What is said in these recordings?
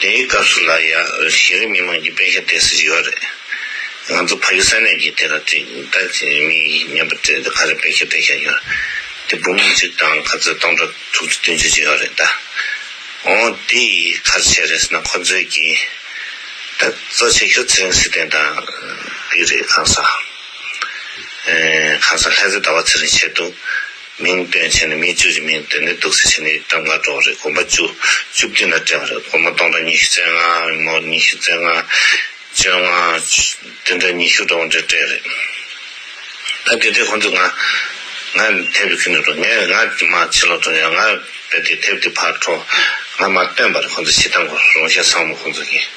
དེའི་སྐབས་སུ་ལ་ཡ་ཤི་རི་མི་དམངས་ཀྱི་དཔེ་ཤ་བལྟས་སུ་ཡོད་རེད། ང་ཚོ་ཕ་ཡུལ་ས་གནས་ཀྱི་དེ་ལ་ཅིག་ལྟ་ཅི་མི་སྙམ་པ་དེ་ག་རེ་དཔེ་ཤ་བལྟས་ཤ་ཡོད་དེ་བུ་མོ་གཅིག་དང་ག་ཚོད་སྟོང་ཕྲག་དྲུག་ཅུ་བདུན་ཅུ་ཅི་ཡོད་རེད་ད། འོ་དེ་ཡི་གར་བྱས་རེད་ཟེར་ན་ཁོ་ཚོའི་གི་ད་གཙོ་ཆེ་ཤོས་ཚེ་རིང་སི་ཏན་དང་པི་རེད་གང་ཟག་གང་ཟག་ལྷས་ཚེ་ཟླ་བ་ཚེ་རིང་བྱས་འདུག། མིང་བཏོན་བྱས་ནས་མིའི་བཅུ་བཞི་མིང་བཏོན་ནས་དུག་སེལ་བྱས་ནས་ཡིག་གྲངས་ལྔ་སྤྲོ་བ་རེད་གོམ་པ་བཅུ། བཅུ་བསྟུན་ལ་སྤྲད་པ་རེད་གོར་མོ་སྟོང་ཕྲག་ཉི་ཤུ་རྩེ་ལྔ་རེད་མོར་ཉི་ཤུ་རྩེ་ལྔ། བཅོ་ལྔ། བདུན་ཕྲག་ཉི་ཤུ་སྤྲོ་བ་འདྲེ་སྤྲད་རེད། ད་དེ་དེ་ཁོང་ཚོས་ང། ང་དེབ་རེ་ཁུར་ནས་འགྲོ་ངས་ང་དེ་མ་ཕྱི་ལོག་འགྲོ་ཡང་ང་བས་དེ་དེབ་དེ་ཕར་འཕྲོ། ང་མ་བཏོན་པ་རེད་ཁོང་ཚོས་ཤི་སྟངས་གོ་རང་བཞིན་བཟང་མོ་ཁོང་ཚོ་གིས།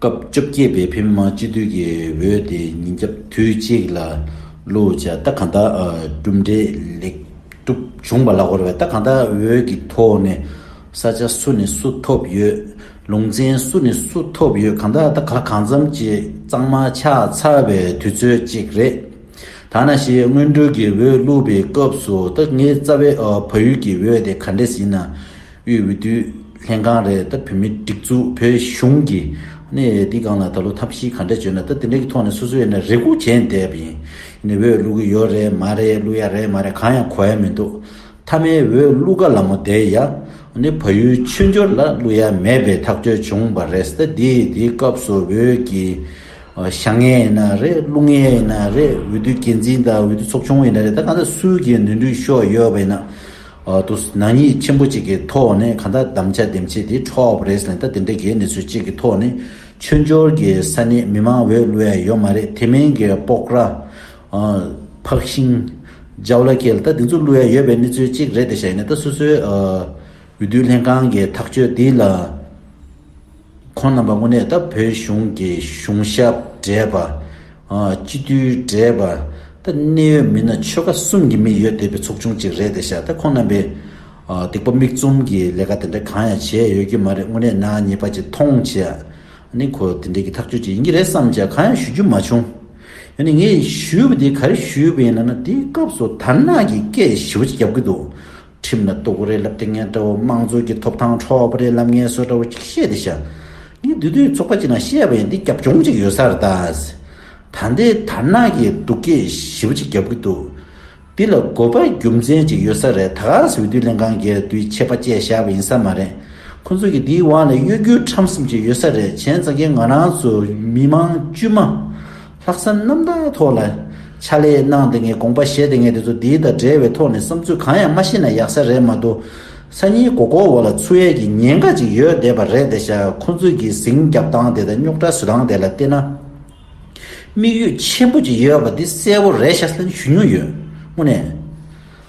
སྐབས་བཅོ་བརྒྱད་པའི་བྷི་མཱ་སྤྱི་འཐུས་ཀྱི་འོས་དེ་ཉིན་རྒྱབ་དུས་གཅིག་ལ་བླུག་བྱས་རྟགས་གང་དག་གྲུབ་འབྲས་ལེགས་གྲུབ་བྱུང་བ་ལ་གོ་བའི་རྟགས་གང་དག་འོས་ཀྱི་ཐོག་ནས་ས་ཆ་སུ་ནས་སུ་ཐོབ་ཡོད་ལུང་ཚན་སུ་ནས་སུ་ཐོབ་ཡོད་གང་དག་རྟགས་ག་གང་ཙམ་གྱི་གཙང་མ་ཆགས་ཚར་བའི་དུས་ཚོད་ཅིག་རེད། ཐ་ན་ཞེས་སྔོན་འགྲོའི་གི་འོས་བླུག་པའི་སྐབས་སུ་རྟགས་ངའི་རྩ་བའི་བ་ཡུལ་གྱི་འོས་དེ་ག་འདྲས་ཡིན་ན་དབུས་འོས་བསྡུ་ལྷན་ཁང་རེད་ད་བོད་མི་སྒྲིག་འཛུགས་བོད་གཞུང་གི་ནས་འདི་གང་ལ་ད་ལོ་ཐབས་ཤིས་ག་འདྲ་བྱོས་ན་ད་དེ་འདྲ་གི་ཐོག་ནས་སོ་སོས་ནས་རེ་སྒུག་བྱས་ནས་བསྡད་པ་ཡིན་ནས་འོས་བླུག་གི་ཡོད་རེད་མ་རེད་བླུག་ཡ་རེད་མ་རེད་གང་ཡང་གོ་ཡ་མི་འདུག་མཐའ་མའི་འོས་བླུག་ག་ལ་མོ་བསྡད་ཡ་ནས་བ་ཡུལ་ཆོས་འབྱོར་ལ་བླུག་ཡ་མེད་པའི་ཐག་གཅོད་བྱུང་བ་རེད་ད་དེ་དེ་སྐབས་སུ་འོས་ཀྱི་ཞག་ངན་ཡིན་ན་རེད་བླུག་ངན་ཡིན་ན་རེད་འོས་བསྡུ་འགན་འཛིན་དང་འོས་བསྡུ་ཚོགས་ཆུང་ཡིན་ན་རེད་ད་གང་ཟག་སུས་ཀྱི་ནུས་འདུག་ཤོག་ཡོད་པ་ཡིན་ན། ཏུ། ནག་ཉེས་ཆེན་པོ་གཅིག་གི་ཐོག་ནས་གང་དག་གདམ་བྱ་འདེམས་བྱེད་དེ་འཕྲོ་བ་རེད་ཟེར་ན་ད་དེ་འདྲ་གི་གནས་ཚུལ་གཅིག་གི་ཐོག་ནས་མཆོད་འཇོར་གྱི་ས་གནས་མི་མང་འོས་བླུ་ཡ་ཡོད་མ་རེད་དེ་མིན་གྱི་སྤོག་ར། འཕགས་ཤིང། ཇའུ་ལ་ཁེལ་ད་དེ་ཚོ་བླུ་ཡ་ཡོད་པའི་གནས་ཚུལ་གཅིག་རེད་དེ་བྱས་ནས་ད་སོ་སོའི་འོས་བསྡུ་ལྷན་ཁང་གི་ཐག་གཅོད་དེ་ལ། ཁོང་རྣམ་པ་དངོས་གནས་ད་བོད་གཞུང་གི་གཞུང་ཞབས་བགྲེས་པ། སྤྱི་འཐུས་བགྲེས་པ། ད་གནད་ཡོད་མི་སྣ་ཆོལ་ཁ་གསུམ་གྱི་མི་ཡོད་བསྡད་པའི་ཚོགས་ཆུང་ཅིག་རེད་བསྡད་ཤག་ད་ཁོང་རྣམ་པས་སྡིག་པ་མིག་བཙུམ་གྱི་ལས་ཀ་དེ་འདྲ་གང་ཡང་བྱས་ཡོད་ཀྱི་མ་རེད་དངོས་གནས་ནག་ཉེས་པ་ཅིག་མཐོང་བྱས་ནི་ཁོ་དེ་འདྲས་ཀྱི་ཐག་གཅོད་ཅིག་ཡིན་གྱི་རེད་བསམ་བྱས་གང་ཡང་ཞུ་རྒྱུ་མ་བྱུང། ཡོང་ནི་ངས་ཞུས་པ་དེ་ག་རེ་ཞུས་པ་ཡིན་ན་ན་དེའི་སྐབས་སུ་དར་ནག་གི་སྐད་ཞི་བ་ཅིག་རྒྱབ་ཀྱི་འདུག་ཁྲིམས་ལ་གཏུགས་རེད་ལབ་དེ་ངས་དགྲ་བོ་དམངས་གཙོ་གི་ཐོབ་ཐང་འཕྲོག་པ་རེད་ལབ་ངས་སོ་དགྲ་བོ་གཅིག་བཤད་དེ་བཞག་ངས་དུས་དུས་ཚོགས་པ་གཅིག་ནང་བཤད་པ་ཡིན་འདི་རྒྱབ་ལྗོངས་གཅིག་ཡོད་སར་དྭགས་ད་འདི་དར་ནག་གི་སྡུག་སྐད་ཞིབ་གཅིག་རྒྱབ་གི་འདུག་འདི་ལ་དགོས་པ་རྒྱུ་མཚན་གཅིག་ཡོད་ས་རེད་དྭགས་འོས་བསྡུ་ལྷན་ཁང་གས་དུས་ཆད་པ་བཅད་བཞག་པ་ཡིན་ས་མ་རེད་ཁོ་ཚོ་གི་འདིའི་དབང་ལས་གཡོ་རྒྱུའི་ཁྲམ་གསུམ་གཅིག་ཡོད་ས་རེད་གཞན་ཙག་རྒན་ང་རང་ཚོ་མི་མང་དཀྱུས་མ། ལྷག་བསམ་རྣམ་དག་ཐོག་ལ། ཕྱག་ལས་གནང་དེ་ངས་དགོངས་པ་བཞེས་དེ་ངས་དེ་ཚོ་འདིའི་དང་འབྲེལ་བའི་ཐོག་ནས་བསམ་ཚུལ་གང་ཡང་མ་ཤེས་ན་ཡག་ས་རེད་མ་གཏོགས། སང་ཉིན་གོ་གོ་བོ་ལ་འཚུ་ཡས་ཀྱི་ཉེན་ཁ་ཅིག་ཡོད་བསྡད་པ་རེད་དེ་ཤ་ཁོ་ཚོས་ཀྱི་ཟིང་རྒྱབ་སྟངས་དེ་དང་རྙོག་དྲ་བཟོས་སྟངས་དེ་ལ་བལྟས་ན། དམིགས་ཡུལ་ཆེན་པོ་ཅིག་ཡོད་པ་དེ་གསལ་བོ་རེད་ཤ་ལྷན་ཞུ་མྱོང་ཡོད་དངོས་གནས།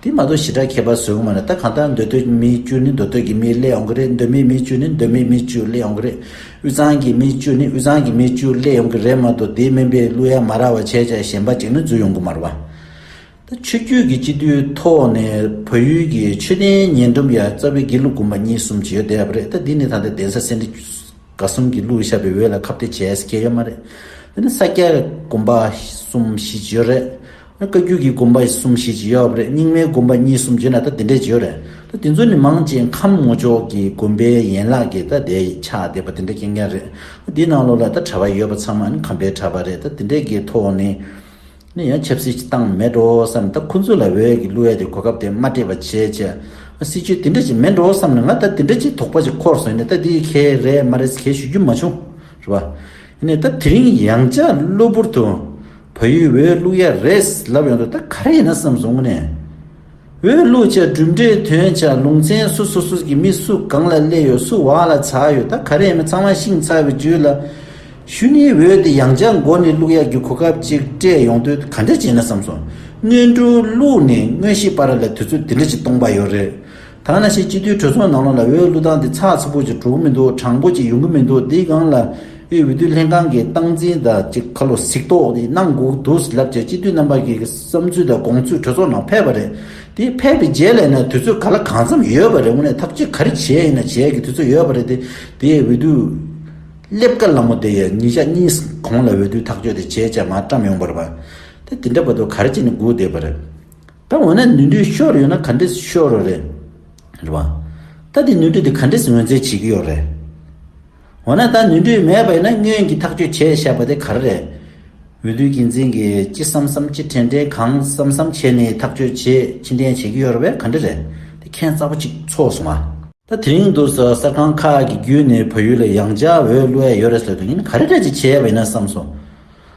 དེ་མ་གཏོགས་ཞི་དྲག་མཁས་པ་ཟོལ་མེད་ན་ད་གང་ལྟར་མདོ་སྟོད་མིའི་བཅུ་ནི་མདོ་སྟོད་ཀྱི་མིའི་ཀླད་ཡོང་གི་རེད་མདོ་སྨད་མིའི་བཅུ་ནི་མདོ་སྨད་མིའི་བཅུ་ཀླད་ཡོང་གི་རེད་དབུས་གཙང་གི་མིའི་བཅུ་ནི་དབུས་གཙང་གི་མིའི་བཅུ་ཀླད་ཡོང་གི་རེད་མ་གཏོགས་དེའི་སྨན་པས་གླུ་ཡ་མ་རག་བ་བྱས་ཅག་གཞན་པ་གཅིག་ནི་འཛུལ་ཡོང་གི་མ་རེད་བ། ད་ཆོས་རྒྱུད་ཀྱི་སྤྱི་འཐུས་ཐོག་ནས་བོད་ཡུལ་གྱི་ཆོས་ལྡན་ཉེ་འགྲམ་ཡ་རྩ་བའི་དགེ་ལུགས་དགོན་པ་གཉིས་གསུམ་བྱས་ཡོད་བསྡད་ཡ་བ་རེད་ད་འདི་ནས་ད་ལྟ་གདན་ས་སེ་འབྲས་དགའ་གསུམ་གྱི་ཀླུ་ཞབས་པའི་འོས་ལ་ཁ་བརྡ་བྱས་ཡ་མ་རེད་དེ་ནས་ས་སྐྱ་དགོན་པ་གསུམ་བཞི་བྱས་ཡོད་རེད། བཀའ་རྒྱུད་ཀྱི་དགོན་པ་གསུམ་བཞི་ཅི་ཡོད་རེད་རྙིང་མའི་དགོན་པ་གཉིས་གསུམ་བརྗེས་ན་ད་དེ་འདྲས་ཅི་ཡོད་རེད་ད་དེ་ཚོ་ནི་མང་ཆེ་ཁམས་སྔོ་ཕྱོགས་ཀྱི་དགོན་པའི་ཡན་ལག་གི་ད་དེ་ཆགས་བསྡད་པ་དེ་འདྲས་སྐྱེལ་མཁན་རེད་དེའི་ནང་ལོགས་ལ་ད་གྲྭ་བ་ཡོད་པ་ཚང་མ་ནི་ཁམས་པའི་གྲྭ་པ་རེད་ད་དེ་འདྲས་ཀྱི་ཐོག་ནས་ནི་ཡང་ཆབ་སྲིད་ཀྱི་སྟངས་མེད་འགྲོ་བསམ་ནས་ད་ཁོ་ཚོ་ལ་འོས་ཀྱི་གླུ་བས་དེ་གོ་སྐབས་དེ་མ་སྤྲད་པ་བྱས་བྱས་ཨ་སྲིད་ཇུས་དེ་འདྲས་ཅིག་མེད་འགྲོ་བསམ་ནས་ང་ད་དེ་འདྲས་ཅིག་དོགས་པ་ཅིག་འཁོར་སོང་ནས་ད་དེ་གལ་རེད་མ་རེད་ཟེར་གལ་ཞུ་རྒྱུ་མ་བྱུང་རེད་པ། གནས་སྟབས་དེ་རིང་ཡང་ལྕགས་གློ་བུར་དུ་བ་ཡུལ་འོས་བླུག་ཡ་རེད་ལབ་ཡོང་དུས་ད་ག་རེ་ཡིན་ན་བསམ་སོང་ངོ་ནས། འོས་བླུག་བྱ་གྲུབ་འབྲས་དོན་བྱ་ལུང་ཚན་སུ་སུ་སུ་གི་མི་སུ་གང་ལ་སླེ་ཡོད་སུ་བག་ལ་ཚ་ཡོད་ད་ག་རེ་ཡིན་མི་ཚང་མ་ཤིང་ཚ་བའི་རྒྱུད་ལ། ཤུ་ནིའི་འོས་དེ་ཡང་ལྕགས་མགོ་ནས་བླུག་ཡ་རྒྱུ་གོ་སྐབས་ཅིག་སྤྲད་ཡོང་དུས་ག་འདྲ་བྱས་ན་བསམ་སོང། དངོས་འབྲུ་བླུག་ནས་དངོས་གཞི་པ་ར་ལ་དུས་ཚོད་དེ་འདྲ་ཅིག་གཏོང་པ་ཡོད་རེད། ཐང་ན་ཤེས་སྤྱི་མཐུས་གྲོས་ཚོགས་ནང་ལོག་ལ་འོས་བླུ་སྟངས་དེ་ཚགས་ཚུད་པོ་ཅིག་གྲུག་གི་མི་འདུག་དྲང་པོ་ཅིག་ཡོང་གི་མི་འདུག་འདི་སྒང་ལ་དབུས་འོས་བསྡུ་ལྷན་ཁང་གི་སྟངས་འཛིན་དང་གཅིག་ཁ་ལོ་ཟིག་ཏོག་དེ་གནང་སྒུག་འདུག་ཟེར་ལབ་ཀྱི་སྤྱི་མཐུས་རྣམ་པ་གི་བསམ་ཚུལ་དང་དགོངས་ཚུལ་གྲོས་ཚོགས་ནང་ཕེབས་པ་རེད་དེ་ཕེབས་པའི་རྗེས་ལས་ན་དུས་ཚོད་ག་ལ་གང་འཚམས་ཡོད་པ་རེད་དངོས་གནས་ཐབས་ཅི་ག་རེ་བྱས་ཡིན་ན་བྱས་ཀྱི་དུས་ཚོད་ཡོད་པ་རེད་དེ་དེ་འོས་བསྡུ་སླེབས་ཀ་ལ་མོ་དེ་ཡི་ཉིན་ཞག་གཉིས་གོང་ལ་འོས་བསྡུ་ཐག་གཅོད་དེ་བྱས་ཅག་མ་བཀྲམ་ཡོང་པར་བ་དེ་དེ་འདྲ་བ་དུ་ག་རེ་བྱས་ནས་སྒུག་བསྡད་པ་རེད། ད་འོ་ན་ནུས་མཐུའི་ཤོར་ཡོད་ན་ག་འདྲེས་ཤོར་རོ་རེད། རེད་བ། ད་དེ་ནུས་མཐུ་དེ་ག་འདྲེས་ངོས་འཛིན་བྱེད་ཀྱི་ཡོད་རེད། འོ་ན་ད་ནུས་མཐུ་མེད་པ་ཡིན་ན་སྔོན་གྱི་ཐག་གཅོད་བྱས་བཞག་པ་དེ་ག་རེ་རེད། འོས་བསྡུའི་འགན་འཛིན་གྱིས་ཅི་བསམ་བསམ་ཅི་དྲན་དྲན་གང་བསམ་བསམ་བྱས་ནས་ཐག་གཅོད་བྱེད་ཕྱི་འཐེན་བྱེད་ཀྱི་ཡོད་རེད་བས་ག་འདྲེ་རེད། དེ་ཁན་གཙགས་པོ་གཅིག་ཚོགས་སོང་ང། ད་དེ་རིང་དུ་གསར་ཁང་ཁག་གི་བརྒྱུད་ནས་བོད་ཡུལ་ལ་ཡང་འཇའ་འོད་གླུ་བས་ཡོད་རེད་ཟེར་དུས་ཉིན་ག་རེ་རེད་ཅིག་བྱས་པ་ཡིན་ན་བསམ་སོང།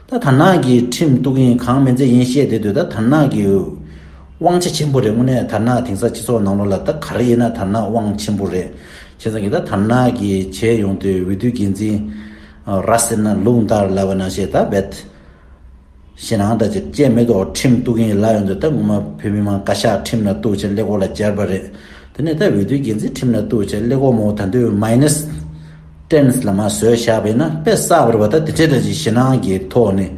ད་དར་ནག་གི་ཁྲིམས་གཏུག་ཡིན་གང་མི་མཛད་ཡིན་བཤད་དེ་དུས་ད་དར་ནག་གི་དབང་ཆ་ཆེན་པོ་རེད་དངོས་གནས་དར་ནག་དེང་སང་སྤྱི་ཚོགས་ནང་ལོག་ལ་ད་ག་རེ་ཡིན་ན་དར་ནག་དབང་ཆེན་པོ་རེད་བྱས་ཙང་གི་ད་དར་ནག་གི་བྱས་ཡོང་དུས་འོས་བསྡུ་འགན་འཛིན་ར་ཟེར་ན་ལུག་འདར་ལ་བས་ན་བཤད་ད་བེད་བྱས་ནའང་ད་ཅེར་ཅེར་མེད་དོ་ཁྲིམས་གཏུག་ཡིན་ལབ་ཡོང་དུས་ད་ངོ་མ་བོད་མི་མང་བཀའ་ཤག་ཁྲིམས་ལ་གཏུག་བྱས་སླེ་གོར་ལ་གྱར་བ་རེད་དེ་ནས་ད་འོས་བསྡུ་འགན་འཛིན་ཁྲིམས་ལ་གཏུག་བྱས་སླེ་གོར་མོ་ད་འདོད་མ་ཡིན་ནས་གཏན་ལ་མ་བཟོས་བཞག་པས་ན་དཔེ་གསར་བར་བ་ད་དེ་འདྲའི་ཞེ་སྣང་གི་ཐོག་ནས་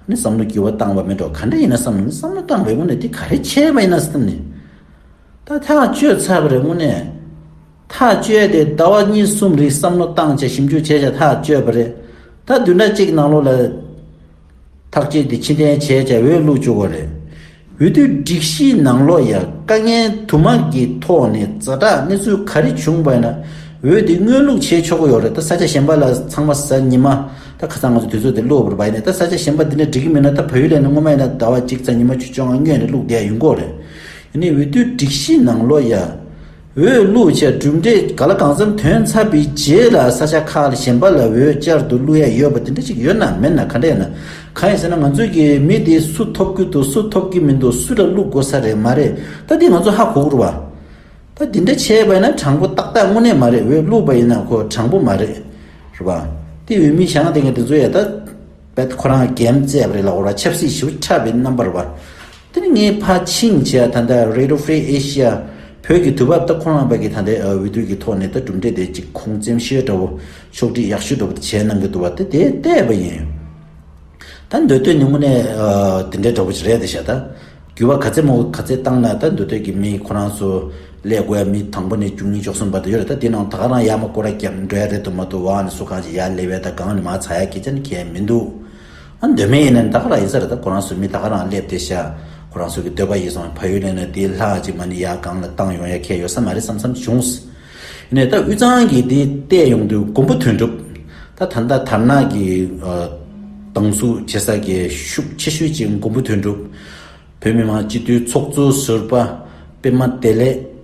ནི་བསམ་བློ་འགྱུར་བ་བཏང་བ་མིན་འགྲོ་ག་འདྲ་ཡིན་ན་བསམ་བློ་ནི་བསམ་བློ་བཏང་བའི་སྔོན་ནས་དེ་ག་རེ་བྱས་པ་ཡིན་ན་སེམས་ནི་ད་ཐག་གཅོད་ཚར་བ་རེད་སྔོན་ནས་ཐག་གཅོད་དེ་ཟླ་བ་གཉིས་གསུམ་རིང་བསམ་བློ་བཏང་བྱས་ཞིབ་འཇུག་བྱས་བྱས་ཐག་གཅོད་པ་རེད་ད་དུས་འདྲ་གཅིག་ནང་ལོགས་ལ། ཐག་བཅད་དེ་ཕྱི་འཐེན་བྱས་བྱ་བའི་གླུ་བཅུག་པ་རེད། འོས་བསྡུའི་སྒྲིག་གཞིའི་ནང་ལོགས་ཡ་དཀའ་ངལ་དུ་མ་གི་ཐོག་ནས་རྫ་དྲག་གནས་ཚུལ་ག་རེ་བྱུང་བས་ན་འོས་བསྡུ་དངོས་ལུགས་བྱས་ཆོག་གི་ཡོག་རེད་ད་ས་ཆ་གཞན་པ་ལ་ཚང་མ་ཟ་ཉི་མ་ད་ཁ་སང་ང་ཚོ་དུས་ཚོད་དེ་གློ་བུར་བ་ཡིན་ནས་ད་ས་ཆ་གཞན་པ་འདི་ནས་འགྲིག་གི་མིན་ན་ད་བོད་ཡུལ་ལས་ནས་སྔོན་མ་ཡིན་ན་ཟླ་བ་གཅིག་ཚ་ཉི་མ་བཅུ་བཅོ་ལྔ་སྔོན་ནས་བླུགས་བསྡད་ཡོད་མགོ་རེད་ཡིན་ནས་འོས་བསྡུའི་སྒྲིག་གཞིའི་ནང་ལོགས་ཡ། འོས་བླུག་བཅས་གྲུབ་འབྲས་ག་ལ་གང་འཚམ་ཐོན་ཚར་བའི་རྗེས་ལ་ས་ཆ་ཁག་ལ་གཞན་པ་ལ་འོས་བསྐྱར་དུ་བླུག་ཡ་ཡོད་པ་དེ་འདྲ་ཅིག་ཡོད་ན་མེད་ན་ག་འདྲ་ཡོད་ན། གང་ཡིན་ཟེར་ན་ང་ཚོའི་གི་མི་དེ་སུ་ཐོབ་ཀི་འདུག་སུ་ཐོབ་ཀི་མི་འདུག་སུ་ལ་བླུག་དགོས་ས་རེད་མ་རེད་ད་དེ་ང་ཚོ་ཧ་གོ་དགོས་རེད་པ། ད་དེ་འདྲ་བྱས་པ་ཡིན་ན་དྲང་པོ་ཏག་ཏག་དངོས་གནས་མ་རེད་འོས་བླུག་པ་ཡིན་ན་ཁོ་དྲང་པོ་མ་རེད། རེད་པ། དེ་འོས་མི་གཞང་དེ་འགའ་དེ་ཚོ་ཡ་ད། པད་ཁོ་རང་རྒྱལ་མཛད་པ་རེད་ལ་འོ་ར་ཆབ་སྲིད་ཞིབ་ཕྲ་བའི་རྣམ་པར་བར། དེ་ནི་ངའི་ཕ་ཆིང་ཅཱ་ད་ལྟ Radio Free Asia བོད་ཀྱི་དུས་བབ་ད་ཁོ་རང་བལ་གྱི་ད་ལྟའི་འོས་བསྡུ་ཡི་ཐོག་ནས་ད་གྲུབ་འབྲས་དེ་ཅིག་ཁོང་བཙན་བཤོལ་འདྲ་བོ་ཕྱོགས་སྒྲིག་ཡག་ཤོས་འདྲ་བོ་དེ་བྱས་གནང་གི་འདུག་བ་དེ་དེ་བལྟས་པ་ཡིན། ད་འདོད་དོན་ནི་དངོས་གནས་དེ་འདྲའི་འདྲ་བོ་ཞིག་རེད་ད་བཤད་ད། རྒྱུ་བ་ག་ཚད་མོ་ག་ཚད་བཏང་ན་ད་འདོད་འདོད་ཀྱི་མི་ཁོ་རང་ཚོ་ལས་དགོས་ཡ་མི་དང་པོ་ནས་བཅུ་གཉིས་བཅུ་གསུམ་བར་དུ་ཡོད་རེད་ད་འདི་ནང་ད་ག་རང་ཡ་མ་ཀོ་ར་རྒྱབ་འགྲོ་ཡ་རེད་དུ་མ་དུ་བ་ནས་སུ་གང་ཅི་ཡ་ལེ་བས་ད་གང་ནས་མ་ཚ་ཡ་ཁེ་ཅན་མཁན་མི་འདུག་ཨ་འདོད་མེད་ཡིན་ན་ད་ག་རང་ཡིན་ས་རེད་ད་ཁོ་རང་ཚོའི་མི་ད་ག་རང་སླེབས་ཏེ་ཤ་ཁོ་རང་ཚོ་གི་འདོད་པ་ཡིན་སོང་བ་ཡུལ་ལྷན་ནས་འདི་ལྷག་ཅིག་མ་ནི་ཡ་གང་ལ་བཏང་ཡོང་ཡ་ཁེ་ཡོད་ས་མ་རེད་བསམ་བསམ་བྱུང། ནས་ད་དབུས་གཙང་གི་དེ་བལྟས་ཡོང་དུས་མགོན་པོ་དོན་གྲུབ། ད་ད་ལྟ་དར་ནག་གི་སྡང་ཟུག་བྱེད་ས་གི་ཤུགས་ཆེ་ཤོས་ཀྱི་མགོན་པོ་དོན་གྲུབ། བོད་མི་མང་སྤྱི་འཐུས་ཚོགས་གཙོ་ཟུར་པ་པད་མ་བདེ་ལེགས།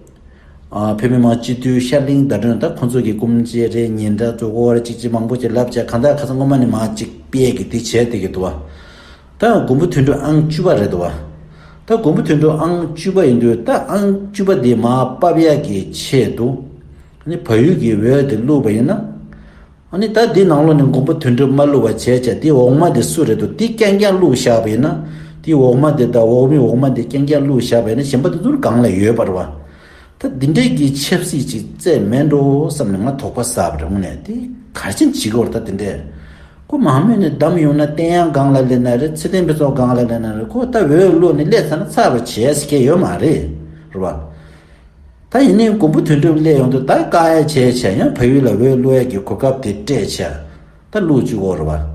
བོད་མི་མང་སྤྱི་འཐུས་ཤར་གླིང་ཟླ་སྒྲོན་ད་ཁོང་ཚོ་གི་སྐུམ་ཇེ་རེ་ཉིན་འདྲ་ཚོ་ཀོ་བར་ཅིག་ཅིག་མང་པོ་ཅིག་ལབ་བྱ་གང་ད་ཁ་ཚ་སྔོན་མ་ནས་མ་ཅིག་པས་གི་དེ་བྱས་དེ་གི་དུ་བ། ད་མགོན་པོ་དུད་འགྲོ་ཨང་བཅུ་པ་རེད་དོ། ད་མགོན་པོ་དུད་འགྲོ་ཨང་བཅུ་པ་ཡིན་དུས་ད་ཨང་བཅུ་པ་དེ་མ་སྤབས་ཡག་གི་ཆེད་དུ། ནི་བལ་ཡུལ་གྱི་འོད་དེ་བསླུས་པ་ཡིན་ན། ནི་ད་འདི་ནང་ལོ་ནི་མགོན་པོ་དུད་འགྲོ་མ་བསླུས་བ་བྱས་བྱས་དེ་འོག་མ་དེ་སུ་རེད་དོ་དེ་ཀྱང་ཀྱང་བསླུས་བཞག་པ་ཡིན་ན། དེ་འོག་མ་དེ་ད་འོག་མི་འོག་མ་དེ་ཀྱང་ཀྱང་བསླུས་བཞག་པ་ཡིན་ན་གཞན་པ་དེ་ཚོར་གང་ལ་ཡོད་པར་བ། ད་འདི་འདྲའི་གི་ཆབ་སྲིད་ཅིག་བཙས་མེད་འགྲོ་བསམ་ནས་ང་དོགས་པ་ཟ་བར་འོངས་ནས་དེ་གར་ཕྱིན་བྱིས་སྐོར་ད་འདི་འདྲའི། ཁོ་མང་མོས་ནས་བདམས་ཡོང་ན་བསྟན་གཡང་སྒང་ལ་སླེབས་ན་རེད་ཚེ་བརྟན་ཕུན་ཚོགས་སྒང་ལ་སླེབས་ན་རེད་ཁོ་ལྟ་བུའི་བློ་ནི་སླེབས་ཚར་ན་ཚར་བ་བྱེད་ཟེར་མཁན་ཡོད་མ་རེད་བ། ད་ཡིན་ནའི་མགོན་པོ་དོན་གྲུབ་སླེབས་ཡོང་དུས་ད་བཀག་ཡ་བྱས་བྱས་ཡང་བལ་ཡུལ་ལ་འོས་བླུག་ཡ་གི་གོ་སྐབས་དེ་སྤྲད་བྱས་ད་བླུག་བཅུག་འོ་རེད་བ།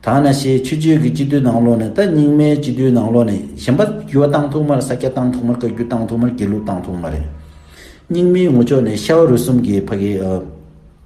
ཐ་ན་ཞེས་ཆུ་ཆོས་ཀྱི་སྤྱི་འཐུས་ནང་ལོགས་ནས་ད་རྙིང་མའི་སྤྱི་འཐུས་ནང་ལོགས་ནས་གཞན་པ་ཡུ་བ་བཏང་ཐུག་མར་ས་སྐྱ་བཏང་ཐུག་མར་བཀའ་རྒྱུད་བཏང་ཐུག་མར་དགེ་ལུགས་བཏང་ཐུག་མ་རེད། རྙིང་མའི་ངོ་ཅོག་ནས་ཤ་བ་རུས་གསུམ་གྱི་ཕ་གི།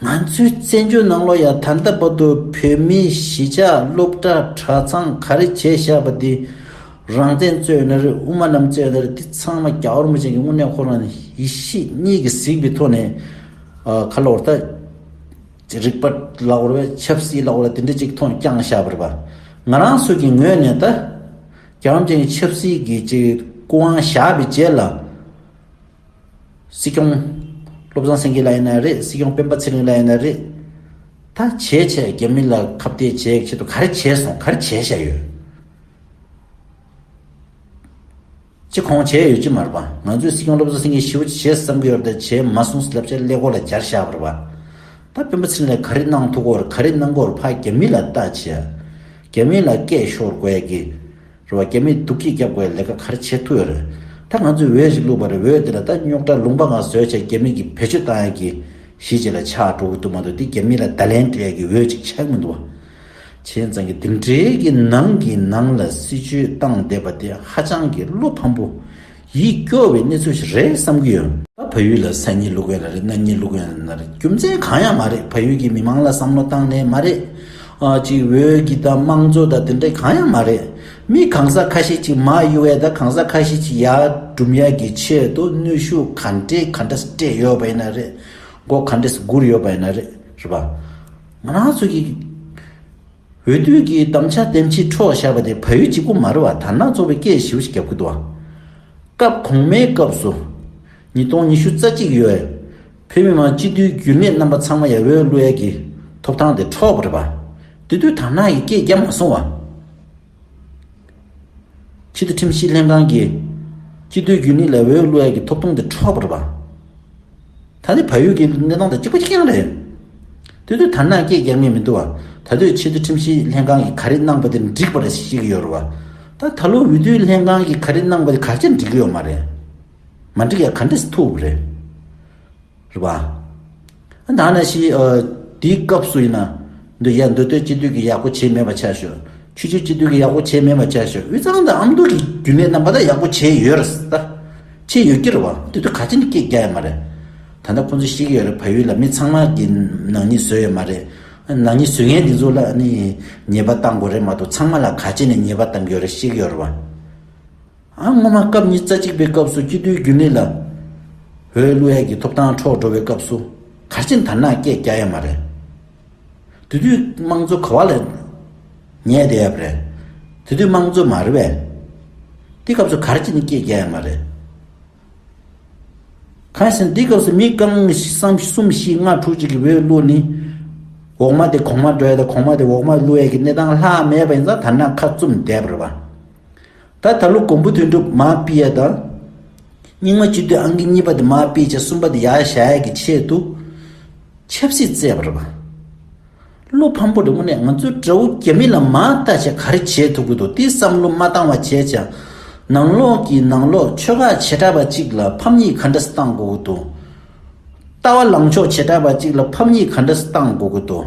ང་ཚོའི་བཙན་བྱོལ་ནང་ལོ་ཡག་ད་ལྟ་བར་དུ་བོད་མིའི་གཞིས་ཆགས་སློབ་གྲྭ་གྲྭ་ཚང་ག་རེ་བྱས་བཞག་པ་དེ་རང་བཙན་རྩོད་ན་རེད་དབུ་མ་རྣམས་རྩོད་ན་རེད་དེ་ཚང་མ་རྒྱ་ཧོར་མོ་ཅན་གྱི་དངོས་གནས་ཁོ་རང་ཡིད་ཤེས་གཉིས་ཀྱི་གཟིགས་པའི་ཐོག་ནས་ཁ་ལོ་བར་ད་རིག་པ་ལ་བོར་བས་ཆབ་སྲིད་ལ་བོར་བ་དེ་འདྲ་གཅིག་མཐོང་རྐྱང་བཞག་པར་བ་ང་རང་སུ་གྱི་ངོས་ནས་ད་རྒྱ་ཧོར་མོ་ཅན་གྱི་ཆབ་སྲིད་ཀྱི་ཅིག་སྐུ་དབང་བཞག་པའི་རྗེས་ལ། སྲིད་སྐྱོང། བློ་བཟང་སེང་གེ་ལ་ཡིན་ན་རེད་སྲིད་སྐྱོང་སྤེན་པ་ཚེ་རིང་ལ་ཡིན་ན་རེད། ད་བྱས་བྱས་རྒྱ་མི་ལ་ཁ་བརྡའི་བྱས་ཡག་ཆེད་དུ་ག་རེ་བྱས་སོང་ག་རེ་བྱས་བཞག་ཡོད། ཅི་གོང་བྱས་ཡོད་ཅི་མར་པ་ང་ཚོས་སྲིད་སྐྱོང་བློ་བཟང་སེང་གེ་ཞི་བ་བྱས་བསམ་གི་ཡོད་ད་བྱས་མ་སོང་ཟི་ལབ་ཆ་ཀླད་ཀོར་ལ་སྦྱར་བཞག་པར་བ། ད་སྤེན་པ་ཚེ་རིང་ལ་ག་རེ་གནང་ཐུག་གོར་ག་རེ་གནང་གོར་ཕ་རྒྱ་མི་ལ་བལྟ་བྱས་ཡག་རྒྱ་མི་ལ་སྐད་ཤོར་དགོས་ཡག་གི། རེ་བ་སྐྱེ་མེད་དུག་གིས་བརྒྱབ་དགོས་ལས་ཀ་ག་རེ་བྱེད་ཐུག་ཡོད་རེད། ད་ང་ཚོས་འོས་ཞིག་བླུགས་པ་རེད་འོས་དེ་ལ་ད་རྙོག་དྲ་ལུང་པ་འང་བཟོས་བྱས་རྒྱ་མི་གིས་བེད་སྤྱོད་བཏང་ཡག་གི། གཞིས་བྱེས་ལ་ཆགས་འགྲོ་གི་འདུག་མ་འདུག་དེ་རྒྱ་མི་ལ་བརྡ་ལན་སྤྲད་ཡག་གི་འོས་ཅིག་ཆགས་ཀྱི་མི་འདུག་བ། བྱས་ཙང་གི་འདི་འདྲའི་གི་ནང་གི་ནང་ལ་སྲིད་བྱུས་བཏང་བསྡད་པ་དེ་ཧ་ཅང་གི་བློ་ཕམ་པོ། ཡིད་སྐྱོ་བའི་གནས་ཚུལ་ཞིག་རེད་བསམ་གྱི་ཡོད། ད་བལ་ཡུལ་ལ་ས་གཉིས་ལུགས་ཡོད་ན་རེད་གནའ་གཉིས་ལུགས་ཡོད་ན་རེད་རྒྱུ་མཚན་གང་ཡང་མ་རེད་བལ་ཡུལ་གྱི་མི་མང་ལ་བསམ་བློ་བཏང་ནས་མ་རེད། གཅིག་འོས་གི་དང་དམངས་གཙོ་དང་དེ་འདྲ་གང་ཡང་མ་རེད། མི་གང་ཟག་ཁ་ཤས་ཅིག་མ་ཡི་བས་ད་གང་ཟག་ཁ་ཤས་ཅིག་ཡག་སྒྲུབ་ཡག་གི་ཆེད་དུ་ནུས་ཤུགས་ག་འདྲས་ག་འདྲ་སྤྲད་ཡོད་པ་ཡིན་ན་རེད། མགོ་ག་འདྲས་བསྒུར་ཡོད་པ་ཡིན་ན་རེད། རེད་པ། ང་རང་ཚོ་གི། འོས་བསྡུ་གི་དམ་བཅའ་འདེམས་ཀྱི་འཕྲོ་བཞག་པ་དེ་ཕ་ཡུལ་གྱི་དབུ་མ་རུ་བ་དར་ནག་གཙོ་བའི་སྐད་ཞིབ་བཞི་བརྒྱ་ཕུད་དུ་བ། སྐབས་གོང་མའི་སྐབས་སུ། ཉིས་སྟོང་ཉི་ཤུ་རྩ་གཅིག་ཡོད་འོས་བོད་མི་མང་སྤྱི་འཐུས་འགྱུར་མེད་རྣམ་པ་ཚང་མ་ཡ་བོའི་གླུ་ཡལ་གྱི་ཐོབ་ཐང་དེ་འཕྲོག་པར་བ། དེ་དུས་དར་ནག་གི་སྐད་རྒྱ་མ་སོང་བ། ཆེད་དུ་ཁྲིམས་ཞིབ་ལྷན་ཁང་གིས་སྤྱི་བསྡུས་རྒྱུན་ལས་ལས་འོས་བློ་ཡག་གི་ཐོབ་ཐང་དེ་འཕྲོག་པར་བར། ད་ལྟའི་བལ་ཡུལ་གྱི་གནས་སྟངས་དང་གཅིག་པ་གཅིག་མཚུངས་རེད། དེ་དུས་དར་ནག་སྐད་རྒྱག་མིན་མི་འདུག་བ། ད་དུས་ཆེད་དུ་ཁྲིམས་ཞིབ་ལྷན་ཁང་གིས་ག་རེ་གནང་པ་དེར་འགྲིག་པར་བཤད་ཀྱི་ཡོད་རེད་བ། ད་ད་ལོ་འོས་བསྡུ་ལྷན་ཁང་གིས་ག་རེ་གནང་པ་དེ་ག་རྒྱ་འགྲིག་གི་ཡོད་མ་རེད། མ་འགྲིག་ཡ་ག་འདྲས་ཐུབ་རེད། རེད་བ། ད་ནས་ཤི། དེའི་སྐབས་སུ་ཡིན་ན། འདོད་ཡ་འདོད་དོད་སྤྱི་འཐུས་ཀྱི་ཡག་པོ་བྱས་མེད་པ་ཆ་ཤོས། ཆུ་ཆུ་སྤྱི་འཐུས་ཀྱི་ཡག་པོ་བྱས་མེད་པ་ཆ་ཤོས་དབུས་གཙང་དང་ཨ་མདོ་གི་རྒྱུན་ལས་རྣམ་པ་དག་ཡག་པོ་བྱས་ཡོད་རེད་ད། བྱས་ཡོད་ཀྱི་རེད་བ། དེ་ཚོ་ག་ཅིག་ནི་སྐད་རྒྱག་ཡ་མ་རེད། ད་ལྟ་ཁོང་ཚོས་ཤེས་ཀྱི་ཡོད་རེད་བལ་ཡུལ་ལ་མི་ཚང་མ་གི་ནག་ཉེས་བཟོས་ཡོད་མ་རེད། ནག་ཉེས་བཟོས་མཁན་དེ་ཚོ་ལ་ནི་ཉེས་པ་བཏང་དགོས་རེད་མ་གཏོགས་ཚང་མ་ལ་ག་ཅིག་ནི་ཉེས་པ་བཏང་གི་ཡོད་རེད་ཤེས་ཀྱི་ཡོད་རེད་བ། སྔོན་མ་སྐབས་ཉིས་བརྩེགས་གཅིག་པའི་སྐབས་སུ་སྐྱིད་སྡུའི་རྒྱུན་ལས་ལ་བོད་ཀླུ་ཧེ་གི་ཐོབ་ཐང་འཕྲོག་འགྲོ་བའི་སྐབས་སུ་གར་ཆེན་དར་ནག་སྐད་རྒྱག་ཡ་མ་རེད། དེ་དུས་དམངས་གཙོ་ག་བ་ལས་ཉལ་བསྡད་ཡབ་རེད། དེ་དུས་དམངས་གཙོ་མ་རེད་བས། དེ་སྐབས་སུ་གར་ཆེན་སྐད་རྒྱག་ཡ་མ་རེད། གང་ཞིན་དེ་སྐབས་སུ་མི་རྐང་གསུམ་བཞི་ལྔ་དྲུག་ཅིག་གི་བོད་ཀླུ་ནི་འོག་མ་དེ་གོང་མ་འགྲོ་ཡ་དང་གོང་མ་དེ་འོག་མ་ཀླུ་ཧེ་གི་གནས་སྟངས་ལྷག་མེད་པ་ཡིན་ཙང་དར་ནག་ཁ་བཙུམ་བསྡད་པར་བ། ད་ད་ལོ་གོང་བུ་དོན་གྲུབ་མ་སྤི་ཡ་དང། རྙིང་མ་སྤྱི་འཐུས་ཨང་ཀི་གཉིས་པ་དེ་མ་སྤི་བྱེད་གསུམ་པ་དེ་ཡག་ཞྭ་ཡག་གི་ཆེད་དུ་ཆབ་སྲིད་བརྩད་པར། བློ་ཕམ་པོ་རེད་དངོས་གནས་ང་ཚོ་དགྲ་བོ་རྒྱ་མི་ལ་མ་ལྟ་བྱས་ག་རེ་བྱེད་ཐུབ་ཀི་འདུག་དེ་བསམ་བློ་མ་བཏང་བ་བྱས་ཅང་ནང་ལོག་གི་ནང་ལོག་ཆོལ་ཁ་བྱེ་བྲག་པ་ཅིག་ལ་ཕམ་ཉེས་ག་འདྲ་བཏང་དགོས་ཀི་འདུག་ལྟ་བ་ལངས་ཕྱོགས་བྱེ་བྲག་པ་ཅིག་ལ་ཕམ་ཉེས་ག་འདྲ་བཏང་དགོས་ཀི་འདུག།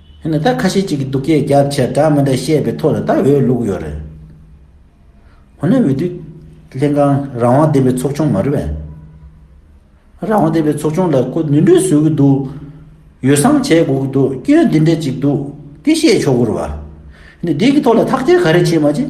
ཧེ་ན་ད་ཁ་ཤས་ཅིག་གིས་སྡུག་སྐད་རྒྱབ་ཕྱིར་སྒྲ་མི་འདྲ་བཤད་པའི་ཐོག་ལ་ད་འོས་བླུགས་ཡོད་རེད། འོ་ན་འོས་བསྡུ་ལྷན་ཁང་རང་དབང་ལྡན་པའི་ཚོགས་ཆུང་མ་རེད་བས། རང་དབང་ལྡན་པའི་ཚོགས་ཆུང་ལ་ཁོ་ནུས་འབྲུ་བཟོས་ཀྱི་འདུག་ཡོ་བསྲང་བྱས་དགོས་ཀྱི་འདུག་སྐྱོན་འདི་འདྲ་ཅིག་འདུག་དེ་བཤད་ཆོག་གུ་རུ་བ། ནས་འདི་གི་ཐོག་ལ་ཐག་གཅོད་ག་རེ་བྱེད་མ་བྱེད།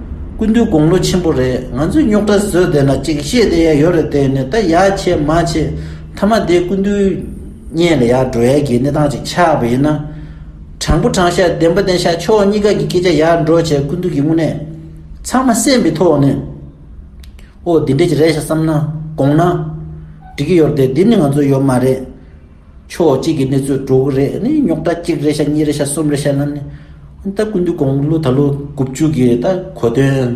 ཀུན་འདུས་དགུང་ལོ་ཆེན་པོ་རེད་ང་ཚོས་རྙོག་དྲ་བཟོས་བསྡད་ན་ཅིག་ཤེས་བསྡད་ཡ་ཡོད་རེད་བསྡད་ནས་ད་ཡ་བྱེད་མ་བྱེད་མཐའ་མ་དེ་ཀུན་འདུས་བརྙན་ལ་ཡ་འགྲོ་ཡ་གྱི་གནས་སྟངས་ཅིག་ཆགས་པ་ཡིན་ན། དྲང་པོ་དྲང་ཤ་བདེན་པ་བདེན་ཤ་ཕྱོགས་གཉིས་ཀ་གི་སྐད་ཆ་ཡ་འགྲོ་བྱས་ཀུན་འདུས་ཀྱི་དངོས་གནས་ཚང་མ་སེམས་པའི་ཐོག་ནས་ཨོ་འདི་འདྲས་ཀྱི་རེད་ཤག་བསམ་ན་དགོངས་ན་འགྲིག་གི་ཡོད་རེད་དེ་འདི་ནི་ང་ཚོ་ཡོད་མ་རེད། ཕྱོགས་གཅིག་གི་གནས་ཚུལ་དྲུག་རེ་ནི་རྙོག་དྲ་གཅིག་རེ་བྱ་གཉིས་རེ་བྱ་གསུམ་རེ་བྱས་ན་ནི་ད་ཀུན་ཏུ་དགོངས་གླུ་ད་ལོ་དགུ་བཅུ་གི་ད་གོ་དོན།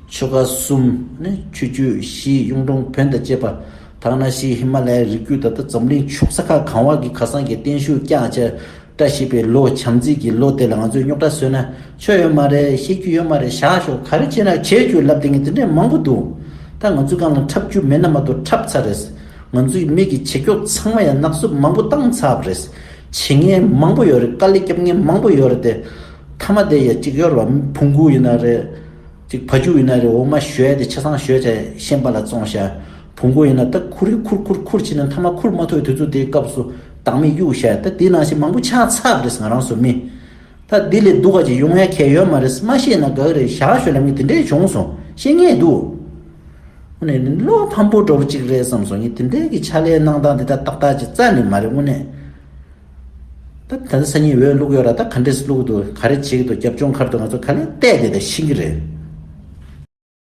ཆོལ་ཁ་གསུམ་ནི་ཆོས་བརྒྱུད་བཞི་གཡུང་དྲུང་བོན་དང་བཅས་པ། དག་སྣ་བཞི་ཧི་མ་ལའི་རི་བརྒྱུད་ད་ལྟ་འཛམ་གླིང་ཕྱོགས་ས་ཁ་གང་བ་གི་ཁ་སང་གི་བརྟན་བཞུགས་བསྐྱངས་བྱས་བཀྲ་ཤིས་པའི་ལོ་བྱམས་བརྩེ་གི་ལོ་དེ་ལ་ང་ཚོས་རྙོག་དྲ་བཟོས་ན། ཆོས་ཡོད་མ་རེད་ཤེས་རྒྱུ་ཡོད་མ་རེད་བཞག་ཞོག་ག་རེ་བྱས་ན་བྱས་ཁྱོད་ལབ་དེ་ངས་དེ་འདྲས་མང་པོ་འདུག་ད་ང་ཚོའི་སྒང་ལ་འཁྲབ་རྒྱུ་མེད་ན་མ་གཏོགས་འཁྲབ་ཚར་རེད་ང་ཚོའི་མིག་གི་བྱེད་རྒྱོགས་ཚང་མ་ཡང་ནག་བསུབ་མང་པོ་བཏང་ཚར་རེད་བྱེད་ངན་མང་པོ་ཡོད་རེད་དཀའ་ལས་སྐྱབས་ངན་མང་པོ་ཡོད་རེད་དེ་མཐའ་མ་དེ་ཡ་གཅིག་གཡོར་བ་ཕུང་གུ་ཡིན་ན་རེད་གཅིག་ཕ་རྒྱུད་ཡིན་ན་རེད་འོ་མ་ཞོས་དེ་ཆ་ཚང་ཞོས་བྱས་ཤན་པ་ལ་བཙོང་ཤ་ཕུང་གུ་ཡིན་ན་ད་ཁུར་རེ་ཁུར་ཁུར་ཁུར་བྱས་ནས་མཐའ་མ་ཁུར་མ་ཐོས་དུས་ཚོད་དེའི་སྐབས་སུ་བདག་མེད་གཡུག་ཤ་ད་དེ་ནང་བཞིན་མང་པོ་ཆགས་ཚར་རེད་ང་རང་སོ་མི། ད་འདི་ལས་སྡུག་ག་ཅིག་ཡོང་ཡ་ཁྱད་ཡོད་མ་རེད་མ་ཤེས་ན་དགག་རེད་བཞག་ཞོར་ལ་ངས་དེ་འདྲས་བྱུང་སོང་ཤེས་ངེས་འདུག་དངོས་གནས་བློ་ཕམ་པོ་འགྲོ་པོ་ཅིག་རེད་བསམ་སོང་ངས་དེ་འདྲས་ཀྱི་ཕྱག་ལས་གནང་སྟངས་འདི་ད་ཏག་ཏག་ཅིག་རྩ་ནས་མ་རེད་དངོས་གནས་ད་ད་ལྟ་སང་ཉིན་འོས་བླུག་ཡོད་ར་ད་ག་འདྲས་བླུག་འདུག་ག་རེ་བྱེད་ཀྱི་འདུག་རྒྱབ་ལྗོངས་ཁར་དུ་ང་ཚོ་ག་ལེར་བལྟས་བསྡད་དང་ཤེས་ཀྱི་རེད།